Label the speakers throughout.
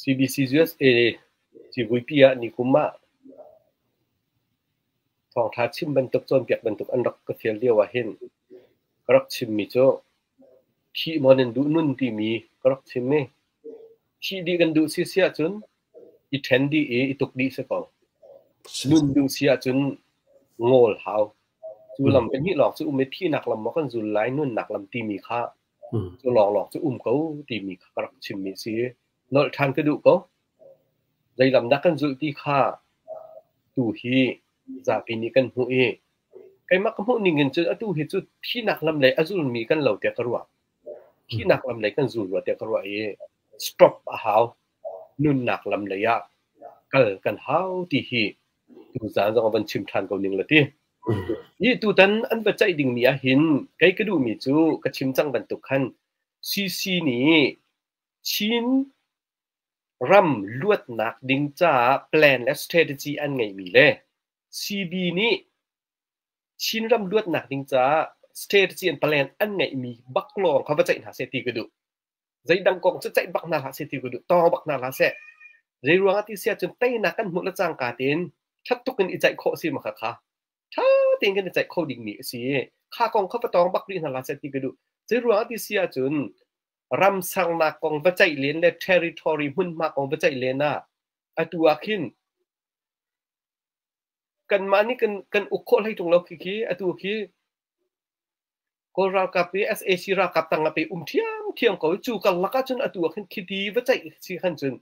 Speaker 1: CBC USA civuipi ah nikum ah thawngtha chim bantuk cawnpiak bantuk an rak ka fial lio ahhin ka rak chimmi cu thih maw nan duh nun timi ka rak chim i thih dih kan duh si si ahcun i ṭhen dih i i tuk dih si ko. Nun duh si ahcun ngawl hau. Cu lam hnih lawng cu um i thihnak lam maw kan zul lai nunnak lam timi kha Cu lawnglawng cu um ko timi kha ka rak chimmi a si i nolh ṭhan ka duh ko. Zeilamdah kan zulh ti kha tu hi zapi nih kan hmuh i keimah ka hmuh ning in cun atu hi cu thihnak lam lei a zulmi kan lo tiah ka ruah. Thihnak lam lei kan zul rua tiah ka ruah i stop a hau. Nunnak lam lei ah kal kan hau ti hi tuzaan zong a van chim ṭhan ko ning le ti. Nih tutan an biaceih dingmi ahhin kei ka duhmi cu ka chim cang bantuk khan CC nih Chin ram luatnak ding caah plan le strategy an ngeihmi le CB nih Chin ram luatnak ding caah strategy and plan an ngeihmi bak lawng kha va ceih hna seh ti ka duh. zeidang kong cu ceih bak hna hlah seh ti ka duh tawng bak hna hlah seh zei ruang ah ti si ahcun teinak kan hmuh le cang ka tin ṭhat tuk in i ceih khawh si ma kha kha ṭha tein kan i ceih kho ding mi a si kha kong kha va tawng bak rih hna hlah seh ti ka duh zei ruang ah ti si ahcun ram sangnak kong va ceih len le territory hmunhma kong va ceih len ah atu ah khin kanmah nih kan kan uk khawh hlei ṭung lo khi khi atu khi Kawl ralkap i sac ralkap tang ah pei um ṭhiamṭhiam ko cu karlak ah cun atu ah khin khiti va ceih si khan cun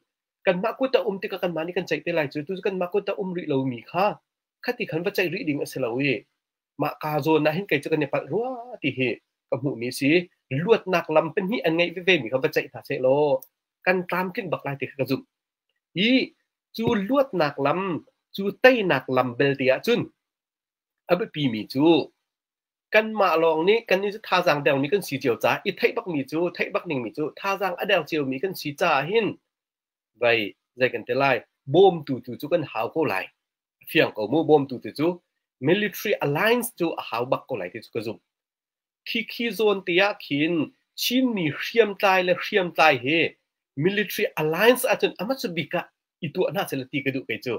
Speaker 1: kanmah kut a um tikah kanmah nih kan ceih te lai cu tu kanmah kut a um rih lomi kha khati khan va ceih rih ding a si lo i mah ka zawn ah hin kei cu kan i palh rua ti hi ka hmuhmi si luatnak lam pahnih an ngeih vevemi kha va ceih hna seh law kan tlamtling bak lai ti kha ka zumh hi cu luatnak lam cu teinak lam belte ahcun a biapimi cu kanmah lawng nih kan nih cu thazaang deuhmi kan si cio caah i theih bakmi cu theih bak dingmi cu thazaang a deu ciomi kan si caah hin vai zei kan te lai bawmtu tu cu kan hau ko lai fiang ko mu bawmtu tu cu military alliance cu a hau bak ko lai ti cu ka zumh Khikhi zawn te ah khin Chinmi hriamtlai le hriamtlai hi military alliance ahcun amah cu bik ah i tuah hna seh ti ka duh kei cu.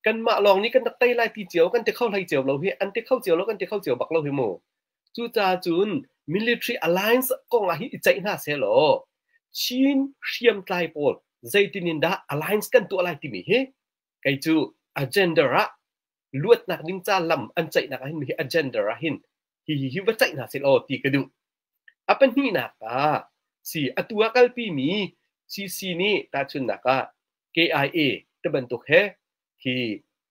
Speaker 1: Kanmah lawng nih kan rak tei lai ti cio, kan ti kho hlei cio lo hi, an ti kho cio lo, kan ti kho cio bak lo hi mu. Cucaah cun military alliance kong ah hi i ceih hna seh law Chin hriamtlai pawl zeitin in dah alliance kan tuah lai timi hi kei cu agenda ah luatnak ding ca lam an ceihnak ahhin hi agenda ahhin hi hi hi va ceih hna seh law ti ka duh a pahnihnak ah si atu ah kalpi mi CC nih tahchunnak ah KIA te bantuk he hi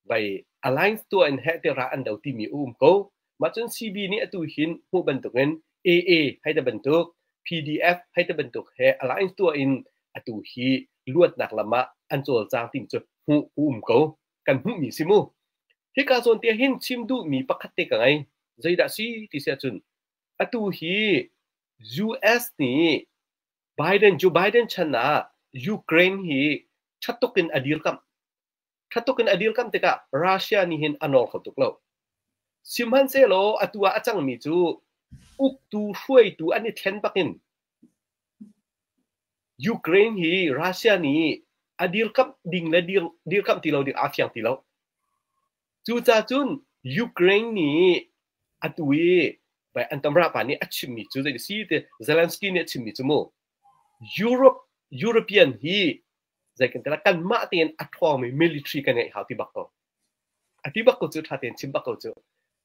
Speaker 1: vai alliance tua in he te ra an do ti mi um ko mah cun CB nih atu hin mu bantuk in AA hai te bantuk PDF hai te bantuk he alliance tua in atu hi luatnak lama an cawlcang ting cu mu um ko kan hmuhmi si mu. Hika zawn te hin chim duhmi pakhat te ka ngei. Zeidah si ti si ahcun atu hi US nih Biden Joe Biden chan ah Ukraine hi thattuk in a dirkamh. Thattuk in a dirkamh tikah Russia nih hin a nawr kho tuk lo. Sihmanhsehlaw atu ah a cangmi cu uktu hruaitu an i thlen bakin Ukraine hi Russia nih a dirkamh ding le dirkamh ti lo ding aa fiang ti lo. Cucacun Ukraine nih atu i an tamrahpa nih a chimmi cu zei a si ti Zelensky nih a chimmi cu mu Europe European hi zei kan ti lai kanmah tein a ṭhawngmi military kan ngeih hau ti bak ko. A ti bak ko cu, ṭha tein chim bak ko cu.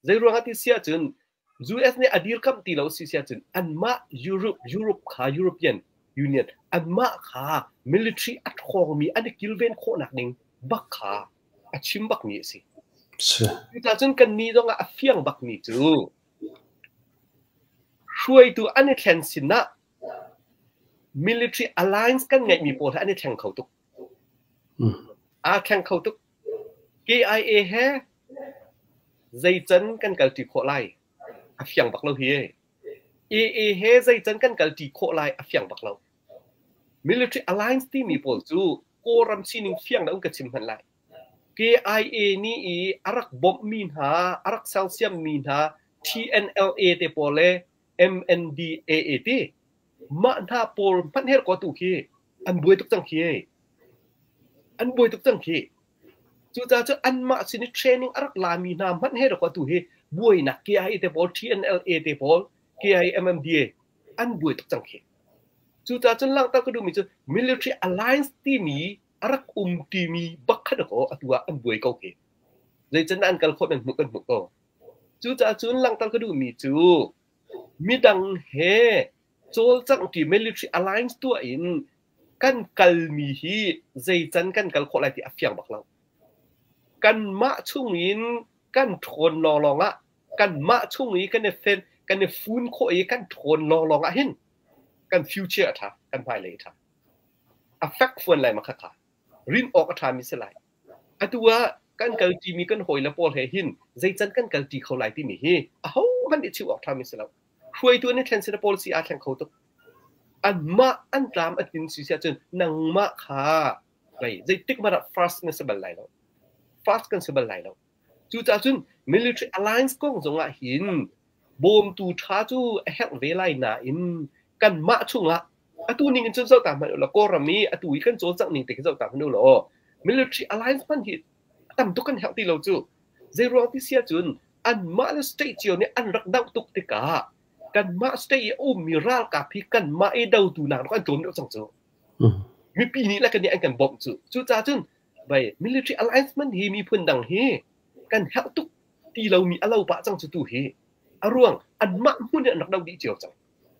Speaker 1: Zeiruangah ti si ahcun, US nih a dirkamh ti lo si si ahcun, anmah Europe, Europe kha, European Union, anmah kha military a ṭhawngmi an i kilven khawhnak ding bak kha a chim bakmi a si. Si. Cucaah cun kannih zongah a fiang bakmi cu, hruaitu an i thlen sinah military alliance kan ngeihmi pawl he an i thleng kho tuk. Aa thleng kho tuk. KIA he zeican kan kalṭi khawh lai a fiang bak lo hi ee. AA he zeican kan kalṭi khawh lai a fiang bak lo. Military alliance timi pawl cu Kawlram sining fiang loin ka chim hmanh lai. KIA nih i a rak bawmhmi hna, a rak sersiammi hna TNLA te pawl le MNDAA ti mah hna pawl hmanher ko tu khi an buai tuk cang khi an buai tuk cang khi cucaah cu anmah sin i training a rak lami hna hmanh he ko tu hi buainak KIA te pawl TNLA te pawl KIA MMDA an buai tuk cang khi cucaah cun langhter ka duhmi cu military alliance timi a rak um timi bakkhat ko atu ah an buai ko khi zeican an kal khawh men hmuh kan hmuh ko Cucaah cun langhter ka duhmi cu midang he cawlcanghtu military alliance tuah in kan kalmi hi zeican kan kal khawh lai ti a fiang bak lo. Kanmah chung in kan ṭhawn lawnglawng ah kanmah chung i kan i fen kan i fun khawh i kan ṭhawn lawnglawng ah hin kan future a ṭha, kan hmailei a ṭha. A fek fawn lai ma khakha. Rin awk a ṭhami si lai. Atu ah kan kalṭi mi kan hawile pawl he hin zeican kan kalṭi kho lai timi hi ahohmanh i chimh awk ṭhami si lo. Hruaitu an i thlen sila pawl si aa thleng kho tuk. Anmah an tlam a tlin si si ahcun nangmah kha mei zeitik hmanh ah fast na si bal lai lo. Fast kan si bal lai lo. Cucaah cun military alliance kong zongah hin bawmtu ṭha cu a herh ve lai nain kanmah chungah atu ning in cun zohta hmanh ulaw Kawlram i atu i kan cawl cang ning te khi zohta hmanh ulaw military alliance hman hi a tam tuk kan herh ti lo cu. Zeiruang ti si ahcun anmah le state cio nih an rak doh tuk tikah kanmah state i a ummi ralkap hi kanmah i dotu nak rak an tlawm deuh cang cu. Mipi nih le kan nih an kan bawmh cu. Cucaah cun Military alliance hi miphun dang hi kan herh tuk ti lomi a lo pah cang cu tu hi. A ruang anmah hmun in an rak doh dih cio cang.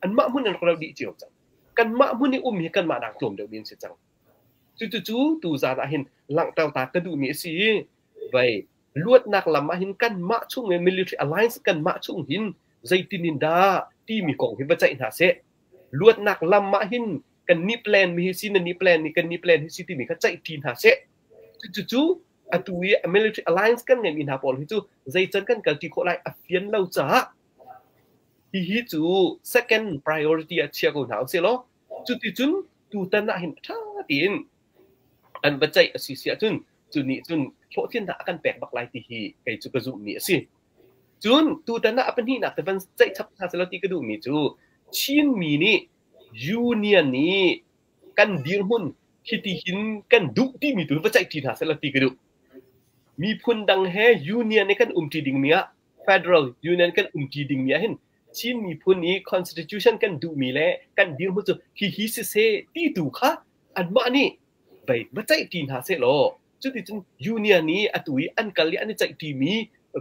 Speaker 1: Anmah hmun in an rak doh dih cio cang. Kanmah hmun i um hi kanmah nak tlawm deuh mi an si cang. Cucucu tu zan ah hin langhter ta ka duhmi a si i vei luatnak lam ah hin kanmah chung i military alliance kanmah chung hin zeitin in dah timi kong hi va ceih hna seh. luatnak lam ah hin kan nih plan mi hi si na nih plan nih kan nih plan hi si timi kha ceih ṭi hna seh. Cucu atu i a military alliance kan ngeihmi hna pawl hi cu zeican kan kalṭi khawh lai a fian lo caah hihi cu second priority ah chia ko hna usih law cuticun tutan ah hin ṭha tiin an va ceih a si si ahcun cu nih cun hlawhtlinnak a kan pek bak lai ti hi kei cu ka zumhmi a si. Cun tutan ah a pahnihnak te van ceih chap hna sehlaw ti ka duhmi cu Chinmi nih union i kan dirhmun hitihin kan duh timi tu va ceihṭi hna sehlaw ti ka duh. Miphun dang he union i kan umṭi dingmi ah federal union kan umṭi dingmi ah hin Chin miphun i constitution kan duhmi le kan dirhmun cu hihi siseh ti tu kha anmah nih bei va ceihṭi hna seh law Cuticun union i atu i an kal i an i ceihṭimi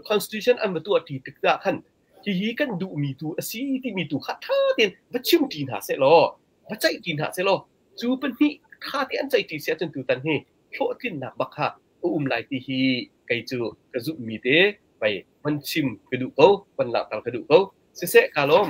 Speaker 1: constitution an va tuahṭi tikah khan hihi kan duhmi tu a si timi tu kha ṭha tein va chimṭi hna seh law va ceihṭi hna seh law cu pahnih ṭha tein an ceihṭi si ahcun tutan hi hlawhtlinnak bak kha a um lai ti hi kei cu ka zumhmi te pei van chim ka duh ko, van langhter ka duh ko. Siseh, ka lawm.